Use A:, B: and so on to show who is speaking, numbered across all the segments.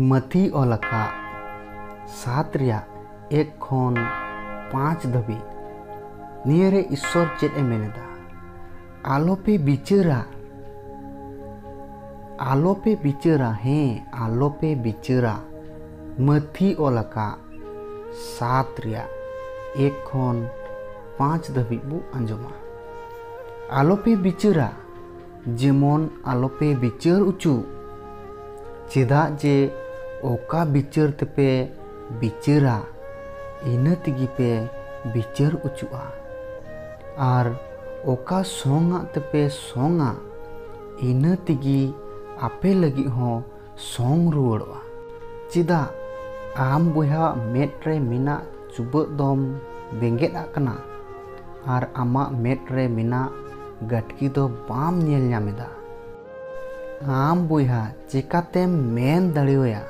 A: ᱢᱟᱹᱛᱤ ᱚᱞ ᱟᱠᱟᱫ ᱥᱟᱛ ᱨᱮᱭᱟᱜ ᱮᱠ ᱠᱷᱚᱱ ᱯᱟᱸᱪ ᱫᱷᱟᱹᱵᱤᱡ ᱱᱤᱭᱟᱹ ᱨᱮ ᱤᱥᱥᱚᱨ ᱪᱮᱫ ᱮ ᱢᱮᱱ ᱮᱫᱟ ᱟᱞᱚᱯᱮ ᱵᱤᱪᱟᱹᱨᱟ ᱟᱞᱚᱯᱮ ᱵᱤᱪᱟᱹᱨᱟ ᱦᱮᱸ ᱟᱞᱚᱯᱮ ᱵᱤᱪᱟᱹᱨᱟ ᱢᱟᱹᱛᱤ ᱚᱞ ᱟᱠᱟᱫ ᱥᱟᱛ ᱨᱮᱭᱟᱜ ᱮᱠ ᱠᱷᱚᱱ ᱯᱟᱸᱪ ᱫᱷᱟᱹᱵᱤᱡ ᱵᱚ ᱟᱸᱡᱚᱢᱟ ᱟᱞᱚᱯᱮ ᱵᱤᱪᱟᱹᱨᱟ ᱡᱮᱢᱚᱱ ᱟᱞᱚᱯᱮ ᱵᱤᱪᱟᱹᱨ ᱚᱪᱚ ᱪᱮᱫᱟᱜ ᱡᱮ ᱚᱠᱟ ᱵᱤᱪᱟᱹᱨ ᱛᱮᱯᱮ ᱵᱤᱪᱟᱹᱨᱟ ᱤᱱᱟᱹ ᱛᱮᱜᱮ ᱯᱮ ᱵᱤᱪᱟᱹᱨ ᱚᱪᱚᱜᱼᱟ ᱟᱨ ᱚᱠᱟ ᱥᱚᱝᱟᱜ ᱛᱮᱯᱮ ᱥᱚᱝᱟ ᱤᱱᱟᱹ ᱛᱮᱜᱮ ᱟᱯᱮ ᱞᱟᱹᱜᱤᱫ ᱦᱚᱸ ᱥᱚᱝ ᱨᱩᱣᱟᱹᱲᱚᱜᱼᱟ ᱪᱮᱫᱟᱜ ᱟᱢ ᱵᱚᱭᱦᱟᱣᱟᱜ ᱢᱮᱫ ᱨᱮ ᱢᱮᱱᱟᱜ ᱪᱩᱵᱟᱹᱜ ᱫᱚᱢ ᱵᱮᱸᱜᱮᱫ ᱟᱜ ᱠᱟᱱᱟ ᱟᱨ ᱟᱢᱟᱜ ᱢᱮᱫ ᱨᱮ ᱢᱮᱱᱟᱜ ᱜᱟᱹᱴᱠᱤ ᱫᱚ ᱵᱟᱢ ᱧᱮᱞ ᱧᱟᱢ ᱮᱫᱟ ᱟᱢ ᱵᱚᱭᱦᱟ ᱪᱮᱠᱟᱛᱮᱢ ᱢᱮᱱ ᱫᱟᱲᱮᱣᱟᱭᱟ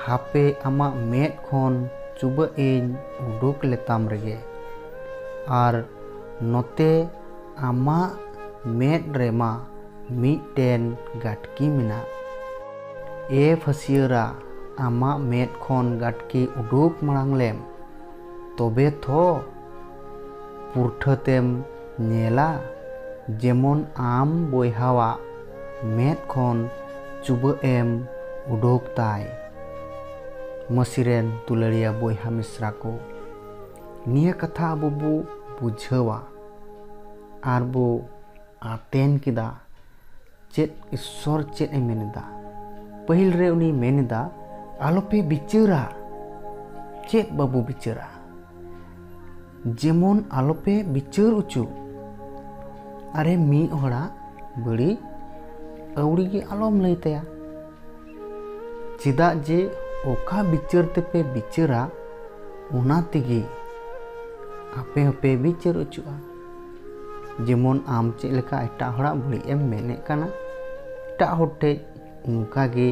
A: ᱦᱟᱯᱮ ᱟᱢᱟᱜ ᱢᱮᱫ ᱠᱷᱚᱱ ᱪᱩᱵᱟᱹᱜ ᱤᱧ ᱩᱰᱩᱠ ᱞᱮᱛᱟᱢ ᱨᱮᱜᱮ ᱟᱨ ᱱᱚᱛᱮ ᱟᱢᱟᱜ ᱢᱮᱫ ᱨᱮᱢᱟ ᱢᱤᱫᱴᱮᱱ ᱜᱟᱴᱠᱤ ᱢᱮᱱᱟᱜ᱾ ᱮ ᱯᱷᱟᱹᱥᱤᱭᱟᱹᱨᱟ ᱟᱢᱟᱜ ᱢᱮᱫ ᱠᱷᱚᱱ ᱜᱟᱴᱠᱤ ᱩᱰᱩᱠ ᱢᱟᱬᱟᱝ ᱞᱮᱢ ᱛᱚᱵᱮ ᱛᱷᱚ ᱯᱩᱨᱴᱷᱟᱹ ᱛᱮᱢ ᱧᱮᱞᱟ ᱡᱮᱢᱚᱱ ᱟᱢ ᱵᱚᱭᱦᱟᱣᱟᱜ ᱢᱮᱫ ᱠᱷᱚᱱ ᱪᱩᱵᱟᱹᱜ ᱮᱢ ᱩᱰᱩᱠ ᱛᱟᱭ᱾ ᱢᱟᱹᱥᱤ ᱨᱮᱱ ᱫᱩᱞᱟᱹᱲᱤᱭᱟᱹ ᱵᱚᱭᱦᱟ ᱢᱤᱥᱨᱟ ᱠᱚ, ᱱᱤᱭᱟᱹ ᱠᱟᱛᱷᱟ ᱟᱵᱚ ᱵᱚ ᱵᱩᱡᱷᱟᱹᱣᱟ ᱟᱨ ᱵᱚ᱾ ᱟᱛᱮᱱ ᱠᱮᱫᱟ ᱪᱮᱫ ᱤᱥᱥᱚᱨ ᱪᱮᱫ ᱮ ᱢᱮᱱ ᱮᱫᱟ ᱯᱟᱹᱦᱤᱞ ᱨᱮ ᱩᱱᱤ ᱢᱮᱱ ᱮᱫᱟ ᱟᱞᱚᱯᱮ ᱵᱤᱪᱟᱹᱨᱟ ᱪᱮᱫ ᱵᱟᱵᱚ ᱵᱤᱪᱟᱹᱨᱟ ᱡᱮᱢᱚᱱ ᱟᱞᱚᱯᱮ ᱵᱤᱪᱟᱹᱨ ᱚᱪᱚ ᱟᱨᱮ ᱢᱤᱫ ᱦᱚᱲᱟᱜ ᱵᱟᱹᱲᱤᱡ ᱟᱹᱣᱲᱤ ᱜᱮ ᱟᱞᱚᱢ ᱞᱟᱹᱭ ᱛᱟᱭᱟ ᱪᱮᱫᱟᱜ ᱡᱮ ᱚᱠᱟ ᱵᱤᱪᱟᱹᱨ ᱛᱮᱯᱮ ᱵᱤᱪᱟᱹᱨᱟ ᱚᱱᱟ ᱛᱮᱜᱮ ᱟᱯᱮ ᱦᱚᱸᱯᱮ ᱵᱤᱪᱟᱹᱨ ᱚᱪᱚᱜᱼᱟ ᱡᱮᱢᱚᱱ ᱟᱢ ᱪᱮᱫ ᱞᱮᱠᱟ ᱮᱴᱟᱜ ᱦᱚᱲᱟᱜ ᱵᱟᱹᱲᱤᱡ ᱮᱢ ᱢᱮᱱᱮᱫ ᱠᱟᱱᱟ ᱮᱴᱟᱜ ᱦᱚᱲ ᱴᱷᱮᱡ ᱚᱱᱠᱟᱜᱮ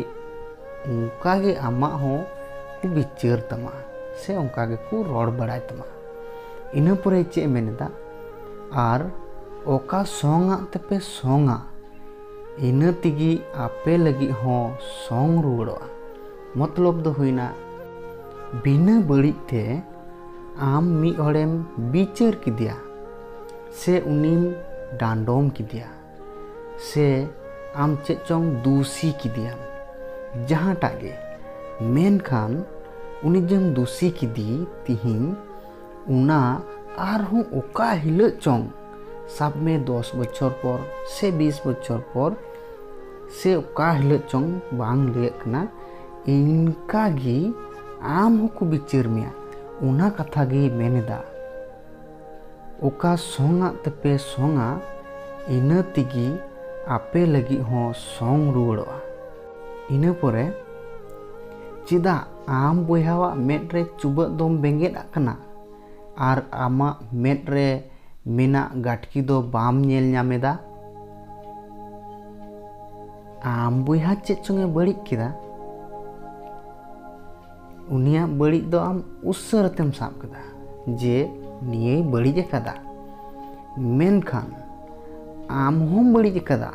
A: ᱚᱱᱠᱟᱜᱮ ᱟᱢᱟᱜ ᱦᱚᱸ ᱠᱚ ᱵᱤᱪᱟᱹᱨ ᱛᱟᱢᱟ ᱥᱮ ᱚᱱᱠᱟ ᱜᱮᱠᱚ ᱨᱚᱲ ᱵᱟᱲᱟᱭ ᱛᱟᱢᱟ ᱤᱱᱟᱹ ᱯᱚᱨᱮ ᱪᱮᱫ ᱢᱮᱱᱮᱫᱟ ᱟᱨ ᱚᱠᱟ ᱥᱚᱝᱟᱜ ᱛᱮᱯᱮ ᱥᱚᱝᱟ ᱤᱱᱟᱹ ᱛᱮᱜᱮ ᱟᱯᱮ ᱞᱟᱹᱜᱤᱫ ᱦᱚᱸ ᱥᱚᱝ ᱨᱩᱣᱟᱹᱲᱚᱜᱼᱟ ᱢᱚᱛᱞᱚᱵ ᱫᱚ ᱦᱩᱭᱱᱟ ᱵᱤᱱᱟᱹ ᱵᱟᱹᱲᱤᱡ ᱛᱮ ᱟᱢ ᱢᱤᱫ ᱦᱚᱲᱮᱢ ᱵᱤᱪᱟᱹᱨ ᱠᱮᱫᱮᱭᱟ ᱥᱮ ᱩᱱᱤᱢ ᱰᱟᱸᱰᱚᱢ ᱠᱮᱫᱮᱭᱟ ᱥᱮ ᱟᱢ ᱪᱮᱫ ᱪᱚᱝ ᱫᱩᱥᱤ ᱠᱮᱫᱮᱭᱟᱢ ᱡᱟᱦᱟᱸᱴᱟᱜ ᱜᱮ ᱢᱮᱱᱠᱷᱟᱱ ᱩᱱᱤ ᱡᱮᱢ ᱫᱩᱥᱤ ᱠᱮᱫᱮ ᱛᱤᱦᱤᱧ ᱚᱱᱟ ᱟᱨᱦᱚᱸ ᱚᱠᱟ ᱦᱤᱞᱳᱜ ᱪᱚᱝ ᱥᱟᱵ ᱢᱮ ᱫᱚᱥ ᱵᱚᱪᱷᱚᱨ ᱯᱚᱨ ᱥᱮ ᱵᱤᱥ ᱵᱚᱪᱷᱚᱨ ᱯᱚᱨ ᱥᱮ ᱚᱠᱟ ᱦᱤᱞᱳᱜ ᱪᱚᱝ ᱵᱟᱝ ᱞᱟᱹᱭᱟᱹᱜ ᱠᱟᱱᱟ ᱤᱱᱠᱟ ᱜᱮ ᱟᱢ ᱦᱚᱸᱠᱚ ᱵᱤᱪᱟᱹᱨ ᱢᱮᱭᱟ ᱚᱱᱟ ᱠᱟᱛᱷᱟ ᱜᱮ ᱢᱮᱱᱮᱫᱟ ᱚᱠᱟ ᱥᱚᱝᱟᱜ ᱛᱮᱯᱮ ᱥᱚᱝᱟ ᱤᱱᱟᱹ ᱛᱮᱜᱮ ᱟᱯᱮ ᱞᱟᱹᱜᱤᱫ ᱦᱚᱸ ᱥᱚᱝ ᱨᱩᱣᱟᱹᱲᱚᱜᱼᱟ ᱤᱱᱟᱹ ᱯᱚᱨᱮ ᱪᱮᱫᱟᱜ ᱟᱢ ᱵᱚᱭᱦᱟᱣᱟᱜ ᱢᱮᱫ ᱨᱮ ᱪᱩᱵᱟᱹᱜ ᱫᱚᱢ ᱵᱮᱸᱜᱮᱫ ᱟᱜ ᱠᱟᱱᱟ ᱟᱨ ᱟᱢᱟᱜ ᱢᱮᱫ ᱨᱮ ᱢᱮᱱᱟᱜ ᱜᱟᱴᱠᱤ ᱫᱚ ᱵᱟᱢ ᱧᱮᱞ ᱧᱟᱢᱮᱫᱟ ᱟᱢ ᱵᱚᱭᱦᱟ ᱪᱮᱫ ᱪᱚᱝᱮ ᱵᱟᱹᱲᱤᱡ ᱠᱮᱫᱟ ᱩᱱᱤᱭᱟᱜ ᱵᱟᱹᱲᱤᱡ ᱫᱚ ᱟᱢ ᱩᱥᱟᱹᱨᱟᱛᱮᱢ ᱥᱟᱵ ᱠᱮᱫᱟ ᱡᱮ ᱱᱤᱭᱟᱹᱭ ᱵᱟᱹᱲᱤᱡ ᱟᱠᱟᱫᱟ ᱢᱮᱱᱠᱷᱟᱱ ᱟᱢ ᱦᱚᱸᱢ ᱵᱟᱹᱲᱤᱡ ᱟᱠᱟᱫᱟ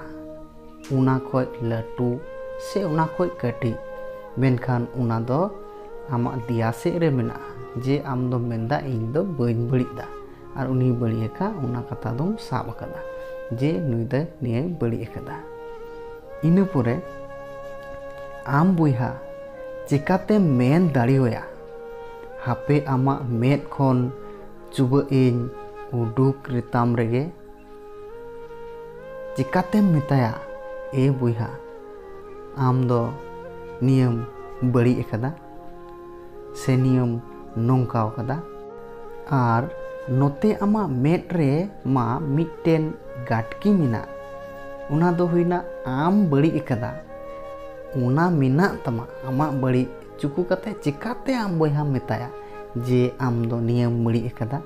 A: ᱚᱱᱟ ᱠᱷᱚᱡ ᱞᱟᱹᱴᱩ ᱥᱮ ᱚᱱᱟ ᱠᱷᱚᱡ ᱠᱟᱹᱴᱤᱡ ᱢᱮᱱᱠᱷᱟᱱ ᱚᱱᱟ ᱫᱚ ᱟᱢᱟᱜ ᱫᱮᱭᱟ ᱥᱮᱫ ᱨᱮ ᱢᱮᱱᱟᱜᱼᱟ ᱡᱮ ᱟᱢ ᱫᱚᱢ ᱢᱮᱱᱫᱟ ᱤᱧ ᱫᱚ ᱵᱟᱹᱧ ᱵᱟᱹᱲᱤᱡ ᱫᱟ ᱟᱨ ᱩᱱᱤ ᱵᱟᱹᱲᱤᱡ ᱟᱠᱟᱫ ᱚᱱᱟ ᱠᱟᱛᱷᱟ ᱫᱚᱢ ᱥᱟᱵ ᱟᱠᱟᱫᱟ ᱡᱮ ᱱᱩᱭ ᱫᱚ ᱱᱤᱭᱟᱹᱭ ᱵᱟᱹᱲᱤᱡ ᱟᱠᱟᱫᱟ ᱤᱱᱟᱹ ᱯᱚᱨᱮ ᱟᱢ ᱵᱚᱭᱦᱟ ᱪᱮᱠᱟᱛᱮ ᱢᱮᱱ ᱫᱟᱲᱮᱣᱟᱭᱟ ᱦᱟᱯᱮ ᱟᱢᱟᱜ ᱢᱮᱫ ᱠᱷᱚᱱ ᱪᱩᱵᱟᱹᱜ ᱤᱧ ᱩᱰᱩᱠ ᱨᱮᱛᱟᱢ ᱨᱮᱜᱮ ᱪᱮᱠᱟᱛᱮᱢ ᱢᱮᱛᱟᱭᱟ ᱮ ᱵᱚᱭᱦᱟ ᱟᱢ ᱫᱚ ᱱᱤᱭᱟᱹᱢ ᱵᱟᱹᱲᱤᱡ ᱟᱠᱟᱫᱟ ᱥᱮ ᱱᱤᱭᱚᱢ ᱱᱚᱝᱠᱟ ᱟᱠᱟᱫᱟ ᱟᱨ ᱱᱚᱛᱮ ᱟᱢᱟᱜ ᱢᱮᱫ ᱨᱮ ᱢᱟ ᱢᱤᱫᱴᱮᱱ ᱜᱟᱴᱠᱤ ᱢᱮᱱᱟᱜ ᱚᱱᱟ ᱫᱚ ᱦᱩᱭᱱᱟ ᱟᱢ ᱵᱟᱹᱲᱤᱡ ᱟᱠᱟᱫᱟ ᱚᱱᱟ ᱢᱮᱱᱟᱜ ᱛᱟᱢᱟ ᱟᱢᱟᱜ ᱵᱟᱹᱲᱤᱡ ᱪᱩᱠᱩ ᱠᱟᱛᱮ ᱪᱮᱠᱟᱛᱮ ᱟᱢ ᱵᱚᱭᱦᱟᱢ ᱢᱮᱛᱟᱭᱟ ᱡᱮ ᱟᱢ ᱫᱚ ᱱᱤᱭᱟᱹᱢ ᱵᱟᱹᱲᱤᱡ ᱟᱠᱟᱫᱟ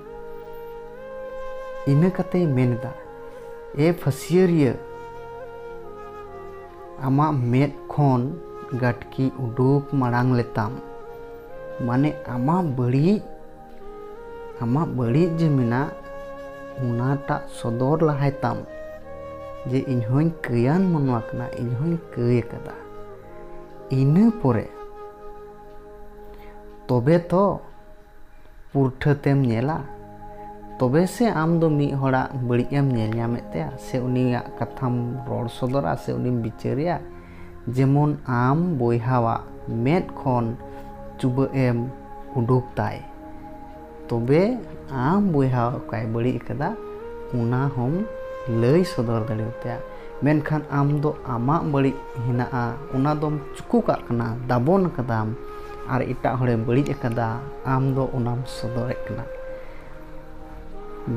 A: ᱤᱱᱟᱹ ᱠᱟᱛᱮᱭ ᱢᱮᱱ ᱮᱫᱟ ᱮ ᱯᱷᱟᱹᱥᱤᱭᱟᱹᱨᱤᱭᱟᱹ ᱟᱢᱟᱜ ᱢᱮᱫ ᱠᱷᱚᱱ ᱜᱟᱹᱴᱠᱤ ᱩᱰᱩᱠ ᱢᱟᱲᱟᱝ ᱞᱮᱛᱟᱢ ᱢᱟᱱᱮ ᱟᱢᱟᱜ ᱵᱟᱹᱲᱤᱡ ᱟᱢᱟᱜ ᱵᱟᱹᱲᱤᱡ ᱡᱮ ᱢᱮᱱᱟᱜ ᱚᱱᱟᱴᱟᱜ ᱥᱚᱫᱚᱨ ᱞᱟᱦᱟᱭ ᱛᱟᱢ ᱡᱮ ᱤᱧ ᱦᱚᱧ ᱠᱟᱹᱭᱟᱱ ᱢᱟᱱᱣᱟ ᱠᱟᱱᱟ ᱤᱧ ᱦᱚᱧ ᱠᱟᱹᱭ ᱟᱠᱟᱫᱟ ᱤᱱᱟᱹ ᱯᱚᱨᱮ ᱛᱚᱵᱮ ᱛᱚ ᱯᱩᱨᱴᱷᱟᱹ ᱛᱮᱢ ᱧᱮᱞᱟ ᱛᱚᱵᱮ ᱥᱮ ᱟᱢ ᱫᱚ ᱢᱤᱫ ᱦᱚᱲᱟᱜ ᱵᱟᱹᱲᱤᱡ ᱮᱢ ᱧᱮᱞ ᱧᱟᱢᱮᱫ ᱛᱟᱭᱟ ᱥᱮ ᱩᱱᱤᱭᱟᱜ ᱠᱟᱛᱷᱟᱢ ᱨᱚᱲ ᱥᱚᱫᱚᱨᱟ ᱥᱮ ᱩᱱᱤᱢ ᱵᱤᱪᱟᱹᱨᱮᱭᱟ ᱡᱮᱢᱚᱱ ᱟᱢ ᱵᱚᱭᱦᱟᱣᱟᱜ ᱢᱮᱫ ᱠᱷᱚᱱ ᱪᱩᱵᱟᱹᱜ ᱮᱢ ᱩᱰᱩᱠ ᱛᱟᱭ ᱛᱚᱵᱮ ᱟᱢ ᱵᱚᱭᱦᱟ ᱚᱠᱟᱭ ᱵᱟᱹᱲᱤᱡ ᱟᱠᱟᱫᱟ ᱚᱱᱟ ᱦᱚᱢ ᱞᱟᱹᱭ ᱥᱚᱫᱚᱨ ᱫᱟᱲᱮᱭᱟᱛᱟᱭᱟ ᱢᱮᱱᱠᱷᱟᱱ ᱟᱢ ᱫᱚ ᱟᱢᱟᱜ ᱵᱟᱹᱲᱤᱡ ᱦᱮᱱᱟᱜᱼᱟ ᱚᱱᱟ ᱫᱚᱢ ᱪᱩᱠᱩ ᱠᱟᱜ ᱠᱟᱱᱟ ᱫᱟᱵᱚᱱ ᱟᱠᱟᱫᱟᱢ ᱟᱨ ᱮᱴᱟᱜ ᱦᱚᱲᱮ ᱵᱟᱹᱲᱤᱡ ᱟᱠᱟᱫᱟ ᱟᱢ ᱫᱚ ᱚᱱᱟᱢ ᱥᱚᱫᱚᱨᱮᱫ ᱠᱟᱱᱟ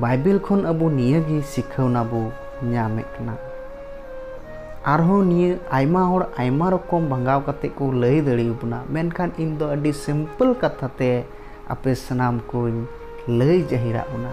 A: ᱵᱟᱭᱵᱮᱞ ᱠᱷᱚᱱ ᱟᱵᱚ ᱱᱤᱭᱟᱹᱜᱮ ᱥᱤᱠᱷᱟᱹᱣᱱᱟ ᱵᱚ ᱧᱟᱢᱮᱫ ᱠᱟᱱᱟ ᱟᱨᱦᱚᱸ ᱱᱤᱭᱟᱹ ᱟᱭᱢᱟ ᱦᱚᱲ ᱟᱭᱢᱟ ᱨᱚᱠᱚᱢ ᱵᱷᱟᱸᱜᱟᱣ ᱠᱟᱛᱮ ᱠᱚ ᱞᱟᱹᱭ ᱫᱟᱲᱮᱭᱟᱵᱚᱱᱟ ᱢᱮᱱᱠᱷᱟᱱ ᱤᱧ ᱫᱚ ᱟᱹᱰᱤ ᱥᱤᱢᱯᱮᱞ ᱠᱟᱛᱷᱟ ᱛᱮ ᱟᱯᱮ ᱥᱟᱱᱟᱢ ᱠᱚᱧ ᱞᱟᱹᱭ ᱡᱟᱹᱦᱤᱨᱟᱜ ᱵᱚᱱᱟ